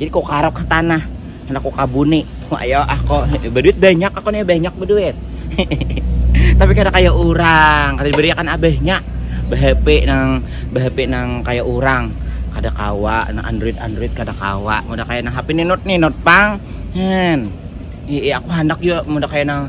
Jadi ko karap ka tanah, handak ko kabuni, ayo ah ko baduit banyak aku nih banyak baduit. Tapi kada kaya urang, kada dibariakan abahnya bahape nang bahape nang kaya urang, kada kawa nang android android kada kawa, muda kaya nang hape ninut ninut pang, hen. Ii aku handak jua muda kaya nang.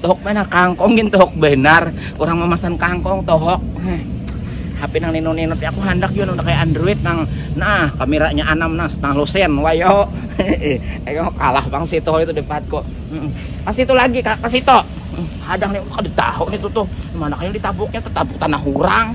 Tuhuk mana kangkong gin tuhuk benar. Orang memasan kangkong tuhuk. HP nang nino-nino aku handak juga nang kayak Android nang nah kameranya anam nah setengah lusen wayo. Ayo kalah bang situ itu depatku. Pas itu lagi kak pas itu. Hadang nih kada tahu nih tuh tuh. Mana kayak ditabuknya tetabuk tanah orang.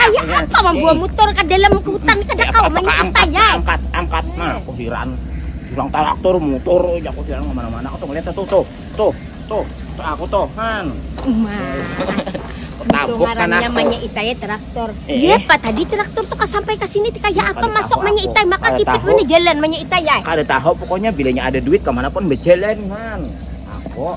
Kayak apa membawa motor ke dalam hutan kada kau mengikuti ya? Angkat, angkat, nah aku hiran. Bilang traktor motor, ya aku hiran kemana-mana. Aku tuh ngeliat tuh, tuh, tuh, tuh, tuh aku tuh, han. Umar. Tabuk kan aku. Namanya itai ya, traktor. Eh. Iya, Pak, tadi traktor tuh sampai ke sini kayak apa masuk manya itai, maka kipit mana jalan manya itai ya. Kada tahu pokoknya bilanya ada duit kemana pun berjalan, han. Aku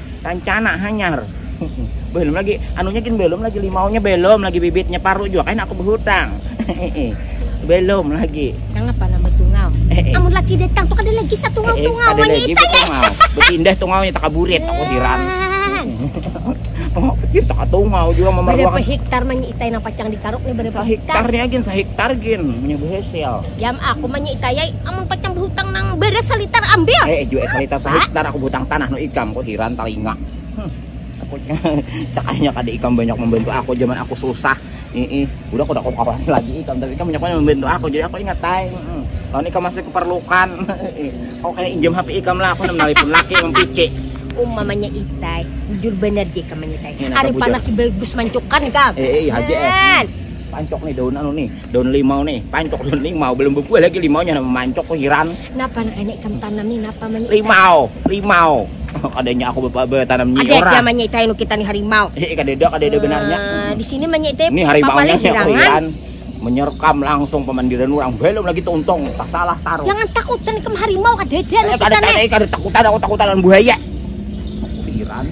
Tancana hanyar. belum lagi anunya gin belum lagi limaunya belum lagi bibitnya paru juga kan aku berhutang. belum lagi. Nang apa nama tungau? Eh, eh. Amun lagi datang tuh ada lagi satu tungau eh, eh, tungau ada lagi itu ya. Berpindah tungaunya tak kaburit aku hiran. Oh, pikir tak tungau juga memerlukan. Berapa hektar manyi itai nang pacang dikaruk nih berapa hektar? Hektarnya gin sehektar gin punya berhasil. Diam aku manyi'tayai, amun pacang bahutang nang baras salitar ambil. He jue salitar sahiktar aku bahutang tanah no ikam, ku hiran talinga. Aku cakanya kada ikam banyak mambantu aku jaman aku susah. Iih, udah kada ku kawani lagi ikam, tapi ikam banyak banar mambantu aku, jadi aku ingat ai. Lawan ikam masih kuparlukan. Aku kaya injam hape ikam lah, aku handak manalipun laki mampici. Uma manyi'tai, bujur banar ja ikam manyi'tai. Ari panas si bagus mancukan ikam. He iih haja eh. Pancuk nih daun anu nih. daun limau nih pancok daun limau belum berbuah lagi limaunya nama mancok kok hiran napa anak ini kamu tanam nih napa mani limau limau kadanya aku bapak bertanam nyi ada ada mani itu yang kita nih harimau eh iya, kadeda kadeda benarnya uh, di sini mani itu ini harimau nya hirangan menyerkam langsung pemandiran orang belum lagi tuntung tak salah taruh jangan takutan kamu harimau kadeda eh, kadeda kadeda takutan aku takutan buaya hiran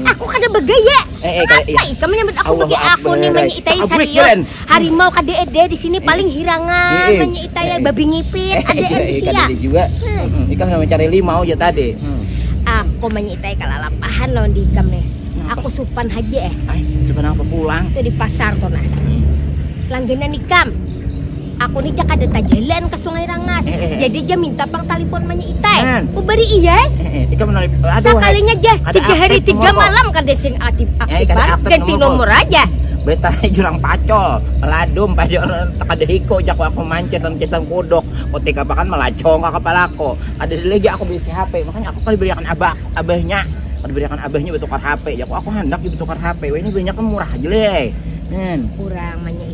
Aku kada bagaya. Eh, eh, kada, iya. Kenapa ikam menyambut aku Allahu bagaya? Aku ni Akbar. menyitai Tabrik, serius. Jelen. Harimau kada ada di sini paling hirangan Eh, eh. menyitai Eh, eh. babi ngipit ada di Eh, sini. kada ada juga. Mm-mm, Ikam sama cari limau aja tadi. Mm. Aku menyitai kalalapahan lawan di ikam nih. Kenapa? Aku supan haja eh. Ay, cuma apa pulang? Itu di pasar tuh nah. Langganan ikam. Aku ni ja kada tajalan ka Sungai Rangas, jadi ja minta pang talipon manya itai. Ku bari iya ai. Sakalinya ja, tiga hari tiga malam kada sing aktif aktifan, ganti nomor aja. Betalnya jurang pacol, peladum, pajar kada hiko ja ku aku mancis am cisang kuduk. Kutik apa kan malacong ka kapala aku. Kada ada lagi aku baisi hape, makanya aku kada bariakan abah abahnya, kada bariakan abahnya batukar hape ja ku aku handak ja batukar hape wahini banyak nang murah haja leh. Urang manya.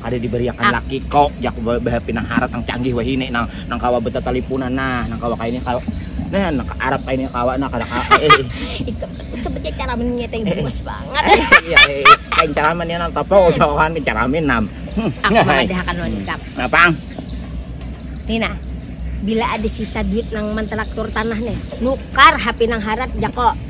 Kada dibariakan ah. laki kau, jak bahap pinang harat nang canggih wahini nang nang kawa betatalipunan nah, nang kawa kaini kawa nah nang ke Arab kaini kawa nah kada kawa. Eh, eh. Itu sebetulnya cara minumnya teh luas eh, banget. Eh, iya, eh, lain cara minumnya nang topo usahakan hmm. cara minum. Hmm. Aku mengadakan lengkap. Apa? Nina, bila ada sisa duit nang mentelaktur tanah nih, nukar HP nang harat jako.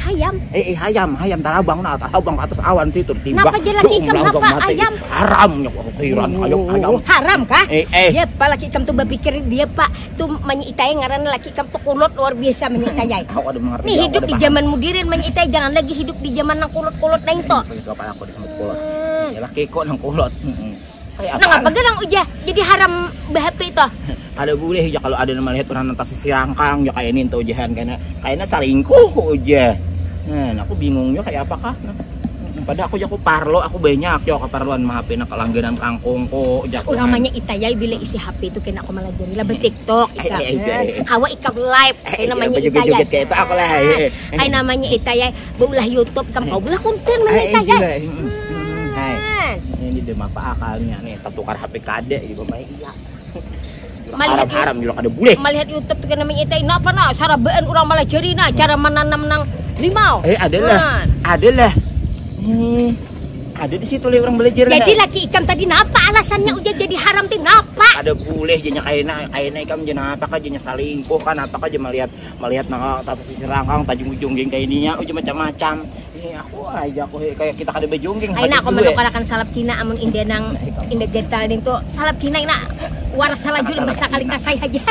Hayam. Eh, eh hayam, hayam tarabang nah, tarabang atas awan situ timbak. Napa jalaki laki ikam napa mati. ayam? Haram nya kok pikiran oh, hayam hayam. Haram kah? Eh, eh. Dia pak laki ikam tuh berpikir dia pak tuh menyitai ngaran laki ikam tuh kulot luar biasa menyitai. Hmm, kau ada mengerti. Nih hidup di zaman mudirin menyitai jangan lagi hidup di zaman nang kulot-kulot nang itu. Saya kepala aku disebut kulot. Hmm. Ya laki kok nang kulot. Hmm. Kayak Nang apa garang uja jadi haram behappy toh? Kada boleh uja kalau ada nama lihat orang nang tasisir angkang uja kayak ini entah ujahan kena kayaknya salingkuh uja. Nah, aku bingung juga kayak apa kah. Nah. Padahal aku jaku parlo, aku banyak yo keparluan mah HP nak langganan kangkung ko jaku. Orang manya ita ya bila isi HP itu kena aku melajari lah bertiktok ita. Kawa ikam live. Kayak namanya ita ya. Kayak namanya ita ya. beulah YouTube kam kau beulah konten mana eh, kaya eh, eh, hmm, hmm, hai ini dia apa akalnya nih tertukar HP kade gitu mah iya melihat haram juga kada boleh melihat YouTube tuh kena mengita ini apa nak sarabaan orang malah jari nak cara menanam nang limau eh adalah adalah hmm ada di situ orang belajar jadi laki ikam tadi napa alasannya udah jadi haram tuh napa ada boleh jadinya kaina kaina ikam jadi napa kan jadinya selingkuh kan apa kan jadi melihat malihat nang ah, tata sisir rangkang tajung jungging kayak ininya uji macam-macam ini aku aja aku kayak kita kada bejungging Aina aku menukarakan salap Cina amun indah nang indah gatal nih tuh salap Cina ina war salah juli masa kali kasai aja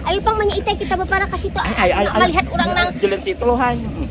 ayo pang banyak kita kita bapara kasih tuh melihat orang nang julit situ loh hai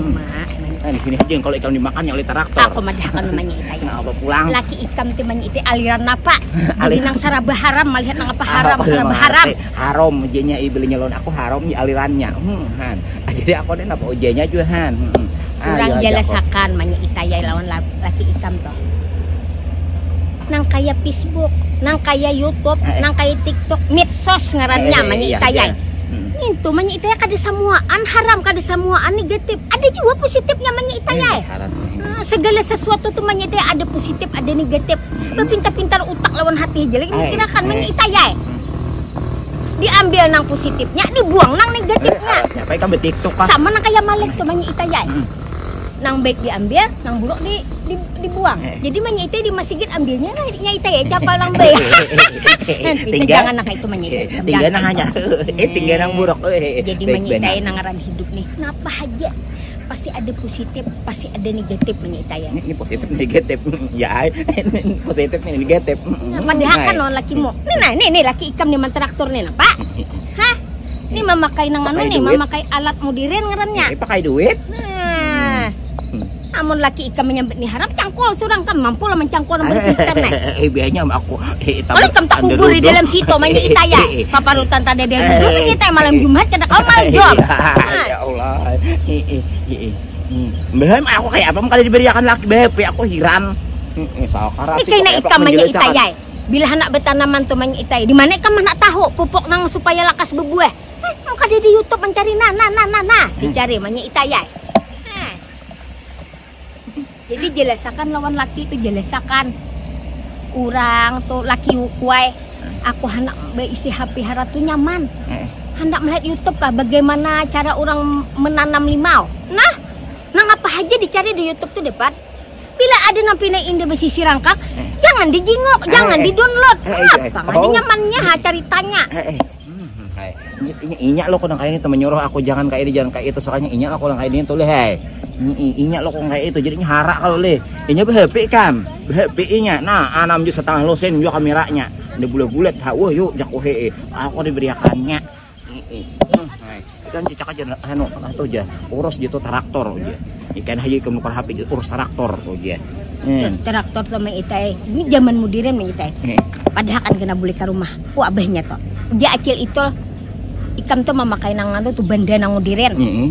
Uma, nah, di sini aja kalau ikam dimakan oleh traktor. Aku madahakan umanya ita ya. Nah, pulang. Laki ikam ti umanya ita aliran napa? Beli nang saraba haram malihat nang apa haram apa saraba haram. Haram jenya i belinya lawan aku haram ya alirannya. Hmm, han. Ah, jadi aku ni napa ujanya jua han. Hmm. Urang ah, jalasakan umanya ita ya lawan laki ikam toh. nang kaya pisbuk, nang kaya yutub, eh, eh. nang kaya tiktok, mitsos ngarannya eh, eh, manya iya, itayai. Iya. Hmm. Nintu manya itayai kada samuaan haram, kada samuaan negatif. Ada juga positifnya manya itayai. Eh, haram. Nah, segala sesuatu tu manya itayai ada positif, ada negatif. Hmm. Bepintar-pintar utak lawan hati aja lagi mikirakan manya itayai. Hmm. Diambil nang positifnya, dibuang nang negatifnya. Eh, apa itu betiktok Sama nang kaya malek tu manya itayai. Hmm. nang baik diambil nang buruk di, di dibuang eh. jadi menyite di masjid ambilnya lah nyaite ya capal nang baik tinggal jangan nang itu menyite eh, tinggal nang hanya eh tinggal nang buruk eh, jadi menyite nang ngaran hidup nih kenapa aja pasti ada positif pasti ada negatif menyita ya ini positif negatif ya ini positif negatif nah, padahakan no laki mo nah nih nih laki ikam nih mentraktor nih pak Hah? Ini memakai nang anu nih, memakai alat mudirin ngarannya. Ini pakai duit. Nah. Hmm. Amun laki ikam menyambut nih haram cangkul surang kam mampu lah mencangkul nomor ikan nah. Eh biayanya aku. Eh, Kalau ikam tak kubur di dalam situ manya itaya. Paparutan tadi ada dulu manya itaya malam Jumat kena kau malam Jumat. Nah. Ya Allah. Belum aku kayak apa kali diberiakan laki beb, aku hiran. Ini kayak ikam manya itaya. Bila handak batanaman tu manya itai, dimana ikam handak tahu pupuk nang supaya lakas babuah? Hah, nang kada di YouTube mancari nah nah nah nah nah, dicari manya itai ai. Hah. Jadi jelasakan lawan laki tu, jelasakan. Urang tu, laki ukuai, aku handak baisi HP hara tu nyaman. Handak melihat YouTube kah bagaimana cara urang menanam limau. Nah, nang apa haja dicari di YouTube tu dapat. Bila ada nang pina indah basisi rangkak, eh. jangan dijingok, eh, jangan eh. didownload. Eh, eh, eh. Apa oh. nyamannya ha ceritanya. Eh, eh. Hmm, inya lo kurang kayak ini temen nyuruh aku jangan kayak ini jangan kayak itu soalnya inya lo kurang kayak ini tuh hei inya lo kurang kayak itu jadinya harak kalau leh inya berhepi kan berhepi inya nah anam ah, juga setengah losen juga kameranya ini bulat-bulat ha wah yuk jakuhe aku diberiakannya Ikan cicak aja anu atau aja urus gitu traktor aja. Ikan haji ke nukar HP gitu urus traktor aja. Hmm. Traktor tuh mah itai. Ini zaman modern mah itai. Hmm. Padahal kan kena beli ke rumah. Ku abahnya tuh. Dia acil itu ikam tuh memakai nang anu tuh benda nang modern. Mm -hmm.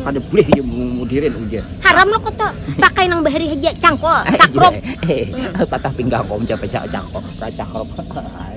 Kada boleh ya modern aja. Haram lo kok tuh. Pakai nang bahari aja cangkol, sakrop. Eh, eh, eh, patah pinggang kau mencapai cangkol, cangkol.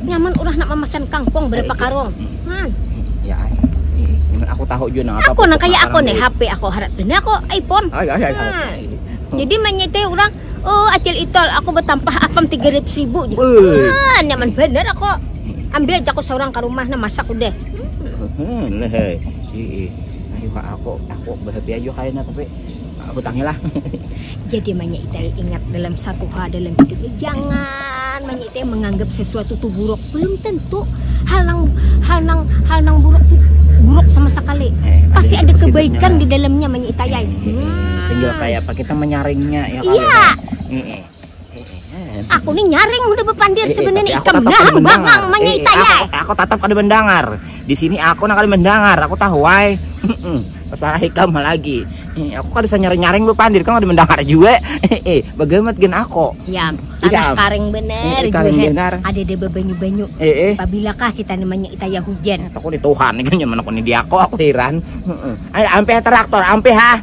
Nyaman urang handak mamasan kangkong berapa karung. Man. Ya ay. Nyaman aku tahu juga nang apa. Aku nang kaya aku nih HP aku harat benar aku iPhone. Ay ay ay. ay. Jadi menyeteh orang Oh, acil itol, aku bertampah apam 300 ribu. Ah, nyaman bener aku. Ambil aja aku seorang ke rumah, nah masak udah. Hmm, leh. Iya, iya. Ayo aku, aku berhappy aja kayaknya, tapi hutangi lah jadi manya itai ingat dalam satu hal dalam hidup ini jangan manya itai menganggap sesuatu tuh buruk belum tentu hal nang hal nang hal nang buruk tuh buruk sama sekali eh, pasti ada, ada kebaikan di dalamnya manya itai eh, eh, eh, tinggal kayak apa kita menyaringnya ya iya eh, eh. Aku ni nyaring udah bepandir sebenarnya ikam nahang bangang manyai tayai. Aku tatap kada mendengar. Di sini aku nak kada mendengar. Aku tahu ai. Masalah ikam lagi. Aku kada senyaring-nyaring bepandir kau kada mendengar juga. Bagamat gen aku. Ya, tanah karing benar. Karing benar. Ada ada bebanyu-banyu. Pabilakah kita ni manyai tayai hujan. Aku ni Tuhan kan nyaman aku ni di aku aku heran. Ayo ampe traktor ampe ha.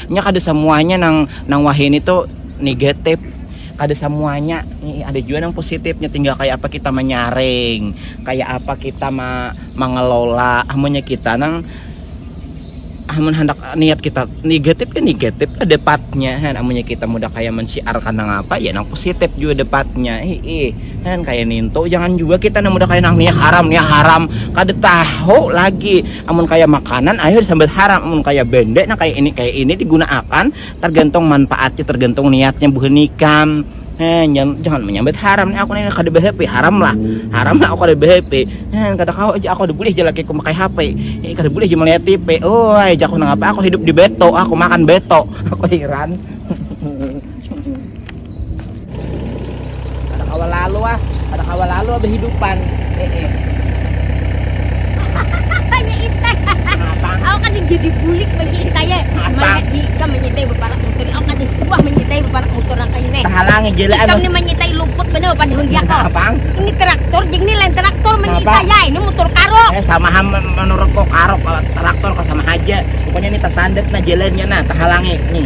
Nya kada samuanya nang nang wahini tu negatif, kada samuanya nih ada juga nang positif, nya tinggal kaya apa kita manyaring, kaya apa kita ma mangelola, amunnya kita nang amun handak niat kita negatif ya negatif lah dapatnya kan, amunnya kita mudah kaya mensiarkan nang apa ya nang positif juga dapatnya, hiih kan kaya nintu, jangan juga kita nang mudah kaya nang nih haram nih haram, kada tahu lagi. Amun kaya makanan ayu disambat haram, amun kaya bende nang kaya ini kaya ini digunaakan targantung manpaatnya targantung niatnya buhan ikam heh jangan manyambat haram nih aku nih kada behape haram lah haram lah aku kada behape heh kada kawa aja aku kada bulih aja lakiku makai hape eh kada bulih aja malihat tipe oi jaku nangapa aku hidup di beto aku makan beto aku hiran. Kada kawa lalu ah, kada kawa lalu ah behidupan. Heeh. Nya itai. Aku kada jadi bulik man nya itai eh. Malihat di ikam man nya itai baparak mutur ni. Aku kada suah man nya itai baparak mutur nang kaya ini. Tahalangi ja lah. Ikam ni man nya itai luput banar bapandangan di aku. Ini traktor jing ni lain traktor man nya itai ai. Ini mutur karuk. Eh sama ha manurutku karuk traktor sama haja. Pokoknya ni tasandat nah jalannya nah tahalangi nih.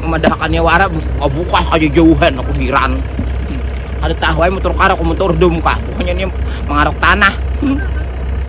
Mamadahakannya wara, babukah haja jauhan, aku hiran. Kada tahu ai mutur kah aku mutur dum kah, buhannya nih mangaruk tanah.